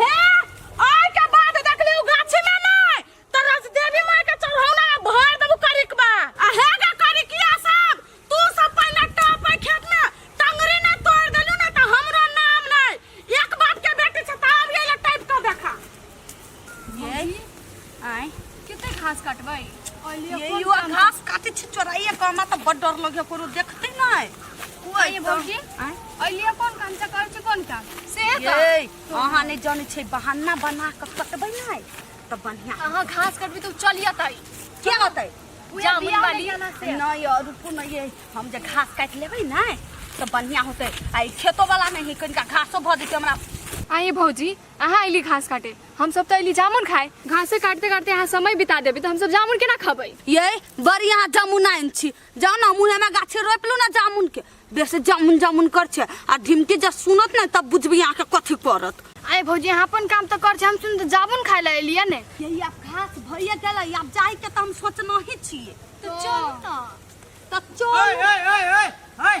हे आय के बाद देखली उ गाछी में नै त रस देवी माय के चढ़ौना में भर देबू करिकबा आ हे गे करिकिया सब तू सब पहिले टप है खेत में टंगरी ना तोड़ देलू ना त हमरो नाम नै एक बाप के बेटी छ त आब ये टाइप क देखा ये आय कते घास काटबै ये यू घास काटे छी चोराइए के हमरा त बड़ डर लगे कोनो देखते नै कोई भौजी आय अलिया कोन काम से कर छी कोन काम से ये अहाँ नै जानै छै बहाना बना के कटबै नै त बढ़िया अहाँ घास काटबै त चल जतै के होतै जामुन वाली नै और रुकू नै ये हम जे घास काट लेबै नै त बढ़िया होतै आ ई खेतो वाला नै है कनिका घासो भ जेतै हमरा आय भौजी अहाँ अयली घास काटे हम सब तो अयली जामुन खाए घासे काटते काटते अहाँ समय बिता देबे तो हम सब जामुन केना खबै ये बड़ी यहाँ जामुन आइन छी जाओ ना मुँह में गाछे रोप लू ना जामुन के बेसे जामुन जामुन कर छे आ ढिमकी जब सुनत ना तब बुझबी यहाँ के कथी करत आए भौजी अहाँ अपन काम तो कर छे हम सुन तो जामुन खाए ला एलिया ने यही आप घास भैया गेल आप जाए के तो हम सोचना ही छिए तो चल तो तो चल ए ए ए ए ए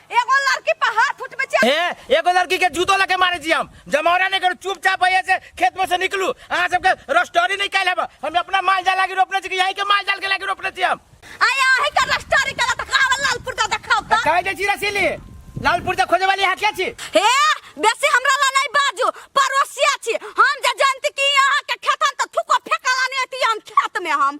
एगो लड़की पर हाथ उठबे छै ए एगो लड़की के जूतो लगे मारे छी हम जमौरा नहीं करू चुपचाप भैया से खेत में से निकलू अहाँ सबके रस्टोरी नहीं कैल हम हम अपना माल जाल लागी रोपने छी कि यहीं के माल जाल के लागी रोपने छी हम आय आही के रस्टोरी कला त कावल लालपुर दा देखाव त कहे जे छी रसीली लालपुर से खोजे वाली हाकिया छी हे बेसी हमरा ला नहीं बाजू पड़ोसिया छी हम जे जानती कि यहाँ के खेतन त थुको फेकला नहीं आती हम खेत में हम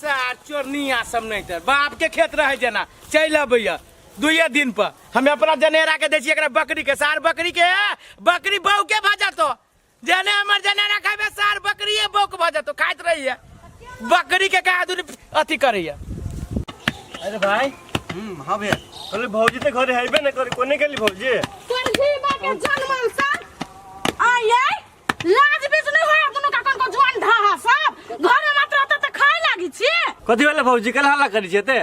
सार चोरनिया सब नहीं तर बाप के खेत रहे जना चल अबैया दुए दिन पर हमें अपना जनेरा के दै छियै एकरा बकरी के सार बकरी के बकरी बहू के भऽ जतो जने हमर जनेरा खाबे सार बकरिए बहू के भऽ जतो खाइत रहिए बकरी के कहा दूर अथी करैया अरे भाई हम्म हाँ भैया अरे भौजी तो घरे हेबे ना करे कोने गेली भौजी तोर घीबा के जनमल सा आय आय लाज बीच नहीं होया दुनु का कनको जुआन ढहा सब घर में मात्र होता त खाए लागी छी कथी वाला भौजी कल हल्ला करी छे ते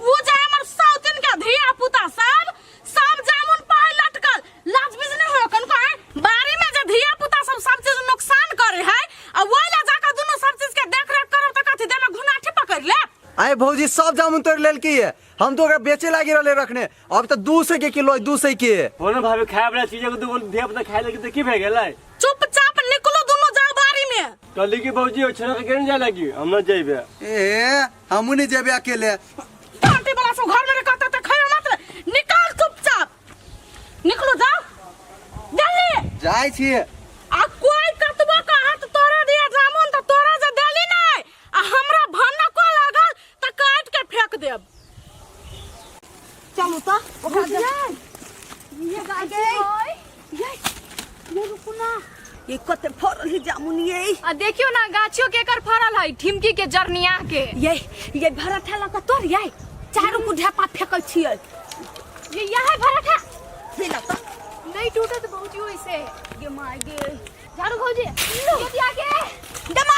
वो जे हमर सौतिन के धिया पुता सब सब जामुन पाए लटकल लाज बीच नहीं होया कनको है बारी में जे धिया पुता सब सब चीज नुकसान करे है आ वो ला जाकर दुनु सब चीज के देख रेख करब त कथी देना घुनाठी पकड़ ले आए भौजी सब जामुन तोड़ लेल की है हम तो ओकरा बेचे लागी रहले रखने अब तऽ दू सौ के किलो है दू सौ के कोनो भाभी खाए वाला चीज को दूगो धिया पुता खाए लगी तो की भए गेलै चुपचाप निकलो दोनों जाओ बारी में कहली कि भौजी ओ छोरा के केने जाए लगी हम न जइबे ए हमू नहीं जेबे अकेले पार्टी वाला सब घर में ने कहता तो खाए मत रे। निकाल चुपचाप निकलो जाओ जल्दी जाय छी आ कोई कतबो का हाथ तोड़ा दिया जामुन तो तोड़ा जे देली नहीं आ हमरा भन्ना को लागल तऽ काट के फेंक देब चलू तऽ ओकरा दे- ये गाय के होय। ये ये रुकू ना ये कते फरल है जामुन ये आ देखियो ना गाछियो के एकर फरल है ठिमकी के जरनिया के ये ये भरत है लगा तोर ये चारू को ढेपा फेंकै छियै ये यह है भरत है हे ना तऽ नहीं टूटत बहुत यो इसे गे माय गे झाड़ू भौजी ये दिया के दमा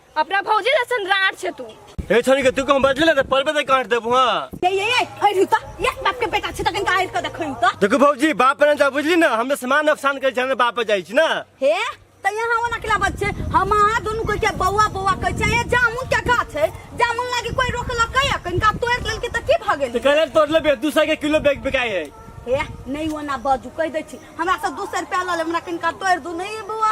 अपना भौजी जैसन राड छे तू ए छोरी के तू कम बदले ना त परबे त काट देबो हां ये ये ये अरे रुता ये बाप के बेटा छे तकन काहे के देखै त देखो भौजी बाप ने जा बुझली ना हमने सामान नुकसान कर जाने बाप पे जाई छी ना हे त यहाँ ओना केला बच्चे हम अहाँ दुनू के के बौआ बौआ कहै छै ये जामुन के गाछ है जामुन लागी कोई रोकलक है अखन का तोड़ लेलके त की भ गेल त करे तोड़ लेबे 200 के किलो बैग बिकाई है हे नहीं ओना बाजू कह दै छी हमरा से दोसर रुपया लऽ ले हमरा कनिका तोड़ दू नहीं बौआ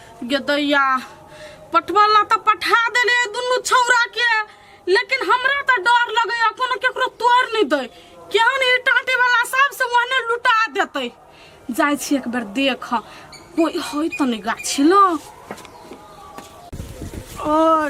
गे दैया पठवा ला तऽ पठा देले दुनू छौरा के लेकिन हमरा तऽ डर लगैया कोनो केकरो तोड़ नहीं दे केहन ई टाटे वाला सब से ओहने लुटा देते जाय छी एक बेर देख कोई होय तऽ नहीं गाछी लो ओ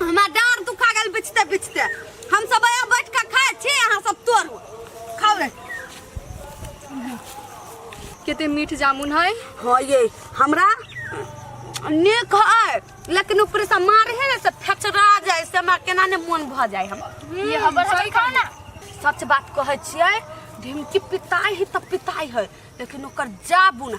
हमरा डार दुखा गेल बिछते बिछते हम सब आया बैठ के खाए छी अहाँ सब तोड़ू खाओ रे कते मीठ जामुन है हाँ ये हमरा नेक है लेकिन ऊपर से मार है ना से फचरा जाए से हमरा केना ने मन भ जाए हम ये हबर हबर खाओ ना सच बात कहै छियै ढिमकी पिताई है तऽ पिताई है लेकिन ओकर जाबू ना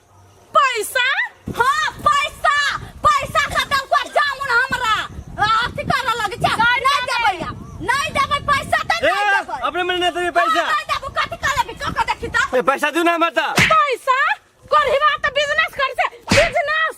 पैसा हाँ पैसा पैसा खत्म कर जामुन हमरा आ, अथी कर लगे छै नहीं देबै आब। नहीं देबै पैसा तऽ ए नहीं देबै अपने मने नहीं देबे पैसा नहीं देबै कथी कर लेबै कऽ कऽ देखी तऽ ए पैसा दू ना हमरा तऽ पैसा करही बात तऽ बिजनेस कर से बिजनेस